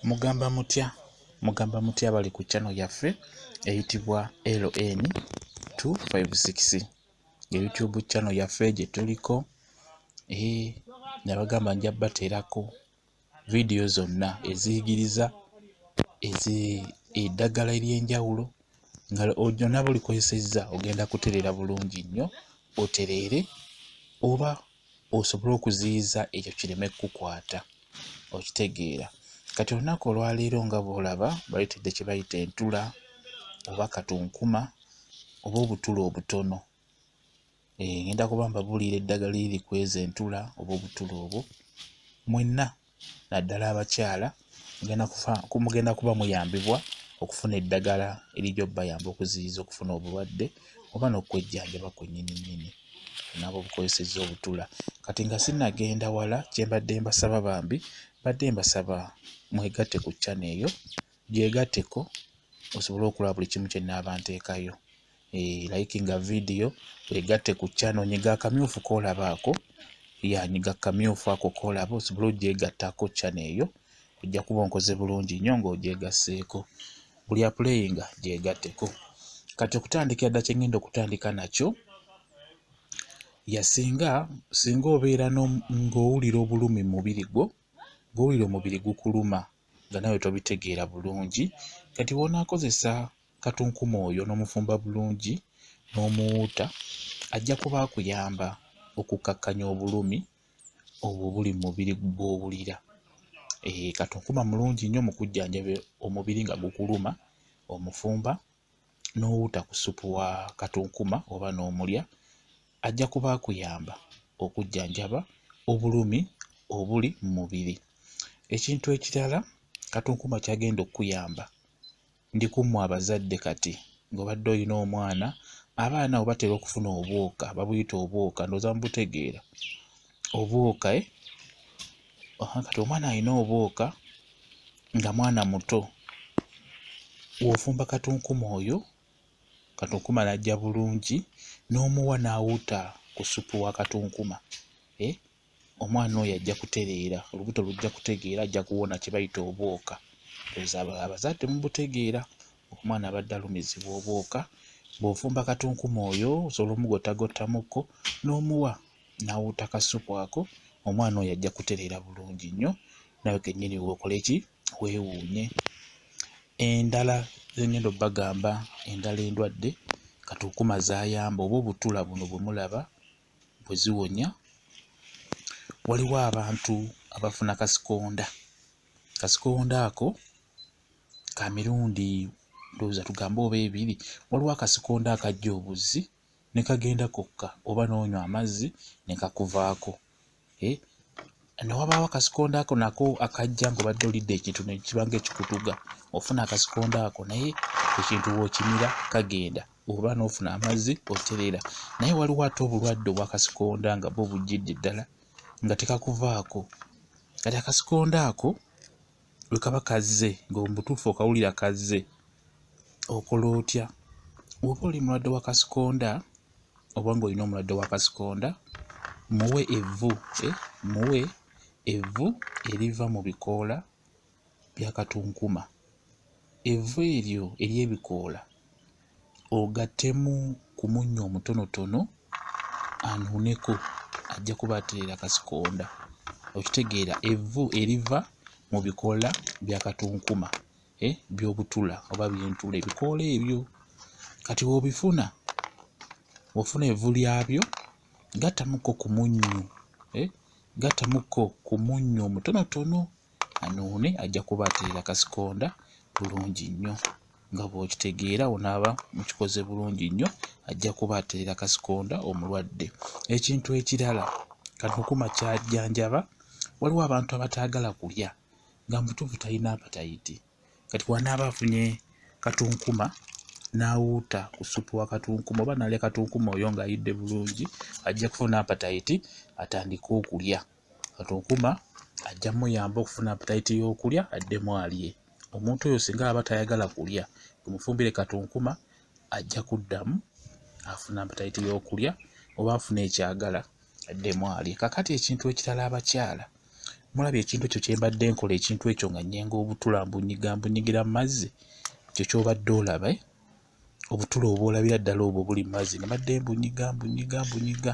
mugamba mutya mugamba mutya bali ku channel yaffe eyitibwa ln 256 ye youtube channel yaffe gye tuliko ee eh, nabagamba nja bateerako vidiyo zonna eziyigiriza eddagala ery'enjawulo nga ojona bulikozesezza ogenda kutereera bulungi nnyo otereere oba osobole okuziyiza ekyo kireme kukukwata okitegeera kati olunaku olwaleero nga bwolaba bayitidde kye bayita entula oba katunkuma oba obutula obutono eh, ngenda kuba mbabuulira eddagala eri kweza entula oba obutula obwo mwenna naddala abakyala mugenda kuba muyambibwa okufuna eddagala erijja obubayamba okuziyiza okufuna obulwadde oba n'okwejjanjaba kwennyini nnyini nabo obukozesezza obutula kati nga sinnagenda wala kye mbadde mbasaba bambi mbadde mbasaba mwegatte ku ccana eyo gyegatteko osobole okulaba buli kimu kye nnaaba nteekayo eh, likinga video egatte ku channel nyiga akamyufu koolabaako yanyiga kamyufu ako koolaba osobole ogyegattako channel eyo ojja kuba onkoze bulungi nnyo ng'ogyegasseeko buli apuleyinga gyegatteko kati okutandikira dda kyengenda okutandika nakyo yasinga singa obeera ng'owulira obulumi mu mubiri gwo ng'owulira omubiri gukuluma nga nawe tobitegeera bulungi kati wonaakozesa katunkuma oyo n'omufumba bulungi n'omuwuuta ajja kuba akuyamba okukkakkanya obulumi obwo buli mu mubiri gw'owulira. Eh, katunkuma mulungi nnyo mu kujjanjaba omubiri nga gukuluma, omufumba n'owuuta ku ssupu wa katunkuma oba n'omulya ajja kuba akuyamba okujjanjaba obulumi obuli mu mubiri. Ekintu ekirala katunkuma ky'agenda okukuyamba Ndi ku mmwe abazadde kati ng'obadde olina omwana, abaana abo batera okufuna obwoka, babuyita obwoka, ndowooza mubutegeera obwoka. Eh? Kati omwana alina obwoka nga mwana muto, w'ofumba katunkuma oyo, katunkuma n'ajja bulungi, n'omuwa n'awuuta ku ssupu wa katunkuma. Eh? omwana oyo ajja kutereera olubuto lujja kutegeera ajja kuwona kye bayita obwoka abazadde mubutegeera omwana abadde alumizibwa obwoka bw'ofumba katunkuma oyo osobola omugottagottamuko n'omuwa n'awuuta kasupu ako omwana oyo ajja kutereera bulungi nnyo nawe kennyini weokole ki weewuunye endala zengendo bagamba endala endwadde katunkuma zayamba oba obutula buno bwe mulaba bwe ziwonya waliwo abantu abafuna kasikonda kasikonda ako ka mirundi ndowooza tugambe oba ebiri waliwo akasikonda akajja obuzzi ne kagenda kokka oba n'onywa amazzi ne kakuvaako eh? newabaawo akasikonda ako nako akajja nga obadde olidde ekintu nekibanga ekikutuga ofuna akasikonda ako naye ekintu wokimira kagenda oba nofuna amazzi oterera naye waliwo ate obulwadde obwakasikonda nga bo bujjidde ddala nga tekakuvaako kati akasikonda ako bwe kaba kazze ng'omubutuufu okawulira kazze okola otya oba oli mulwadde wa kasikonda oba ng'olina omulwadde wa kasikonda muwe evvu eh, muwe evvu eriva mu bikoola bya katunkuma evvu eryo ery'ebikoola ogattemu ku munnyo omutonotono anuuneko ajja kuba atereera kasikonda okitegeera evvu eriva mu bikoola bya katunkuma eh, by'obutula oba byentula ebikoola ebyo kati wobifuna ofuna evvu lyabyo gattamuko ku munnyo eh, gattamuko ku munnyo omutonotono anuune ajja kuba atereera kasikonda bulungi nnyo nga bw'okitegeera onaaba mukikoze bulungi nnyo ajja kuba atereera kasikonda omulwadde ekintu ekirala kanukuma kyajjanjaba waliwo abantu abataagala kulya nga mutuufu talina apatayiti kati wanaaba afunye katunkuma n'awuuta ku supu wa katunkuma oba nalya katunkuma oyo ng'ayidde bulungi ajja kufuna apatayiti atandike okulya kati okuma ajja muyamba okufuna apetayiti y'okulya addemu alye omuntu oyo singa aba tayagala kulya omufumbire kati okuma ajja kuddamu afuna apetayiti y'okulya oba afuna ekyagala addemu alye kakati ekintu ekirala abakyala mulaba ekintu ekyo kyembadde nkola ekintu ekyo nga nyenga obutula mbunyiga mbunyigira mu mazzi ekyo kyobadde olaba eh? obutula obwolabira ddala obwo buli mu mazzi nga badde mbunyiga mbunyiga mbunyiga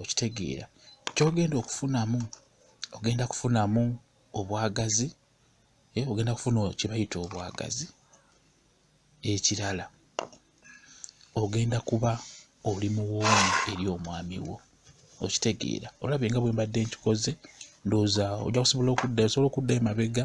okitegeera kyogenda okufunamu ogenda kufunamu obwagazi eh, ogenda kufuna kyebayita obwagazi ekirala ogenda kuba oli muwoomu eri omwami wo okitegeera olabye nga bwe mbadde nkikoze ndowooza ojja kusobola okuddayo osobola okuddayo mabega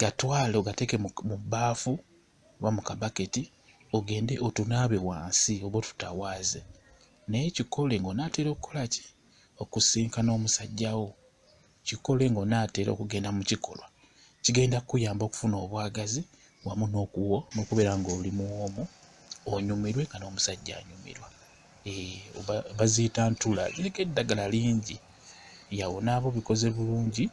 gatwale ogateeke mu bbaafu oba mu kabaketi ogende otunaabe wansi oba otutawaaze naye kikole ng'onaatera okukola ki okusinkana omusajja wo kikole ng'onaatera okugenda mu kikolwa kigenda kukuyamba okufuna obwagazi wamu n'okuwo n'okubeera ng'oli muwoomu onyumirwe nga n'omusajja anyumirwa eh, baziyita ntula ziriko eddagala lingi yawo naaba obikoze bulungi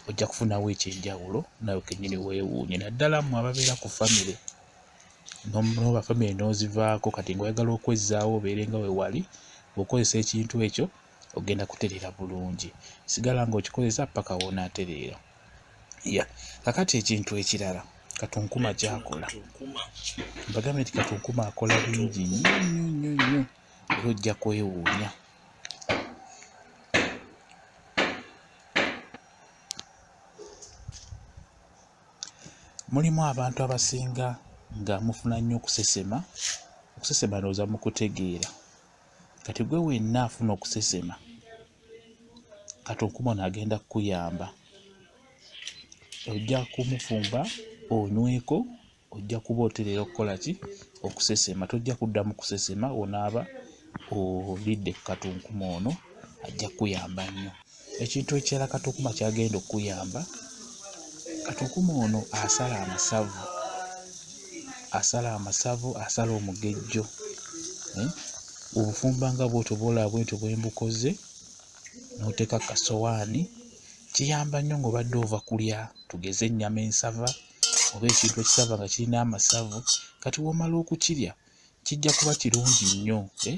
ojja kufunawo ekyenjawulo nawe kenyini wewuunye naddala mwe ababeera ku famire nobafamire nozivaako kati nga oyagala okwezzaawo obeere nga wewali okozesa ekintu ekyo ogenda kutereera bulungi sigala ng'okikozesa paka wonaatereera ya kakati ekintu ekirala katunkuma kyakola mbagambe nti katunkuma akola bingi nnyo nnyo nnyo nnyo era ojja kwewuunya mulimu abantu abasinga nga mufuna nnyo okusesema okusesema ndowooza mu kutegeera kati gwe wenna afuna okusesema kati okumona agenda kukuyamba ojja kumufumba onyweko ojja kuba oterera okukola ki okusesema tojja kuddamu kusesema onaaba olidde ku katunkuma ono ajja kukuyamba nnyo ekintu ekirala katukuma kyagenda okukuyamba katukuma ono asala amasavu asala amasavu asala omugejjo eh? obufumba nga bwotyo bwolaba bwentyo bwembukoze noteeka kasowaani kiyamba nnyo ngaobadde ova kulya tugeze ennyama ensava oba ekintu ekisava nga kirina amasavu kati womala okukirya kijja kuba kirungi nnyo eh?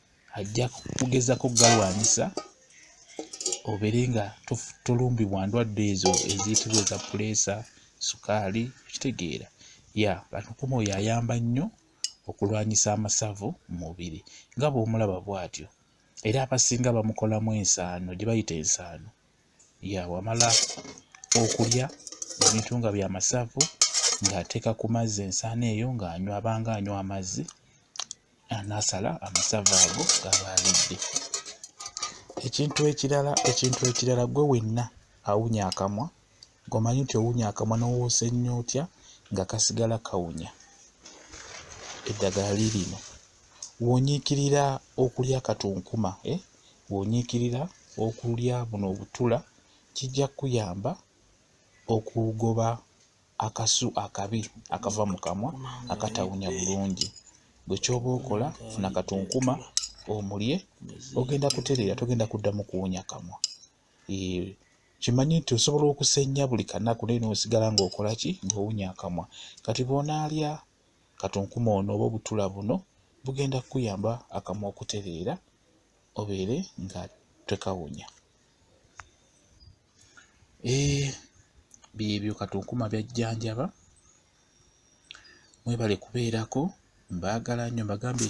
ajja kugezako galwanyisa obeere nga tolumbibwa ndwadde ezo eziyitibwa eza puleesa sukaali okitegeera ya atukuma oyo ayamba nnyo okulwanyisa amasavu mu mubiri nga bw'omulaba bw'atyo era abasinga bamukolamu ensaano gye bayita ensaano ya wamala okulya ebintu nga bya masavu ng'ateeka ku mazzi ensaano eyo ng'anywa abanga anywa amazzi anasala amasavu ago gaba alidde ekintu ekirala ekintu ekirala gwe wenna awunya akamwa gomanyi nti owunya akamwa nowoosa nnyo otya nga kasigala kawunya eddagala lirino wonyiikirira okulya katunkuma eh? wonyiikirira okulya buno obutula kijja kukuyamba okugoba akasu akabi akava mu kamwa akatawunya bulungi bwe kyoba okola funa katunkuma omulye ogenda kutereera togenda kuddamu kuwunya kamwa kimanye nti osobola okusenya buli kanaku naye nosigala ngaokola ki ngaowunya akamwa kati bwonaalya katunkuma ono oba obutula buno bugenda kukuyamba akamwa okutereera obeere nga tekawunya eh, byebyo katunkuma byajjanjaba mwebale kubeerako mbaagala nnyo mbagambye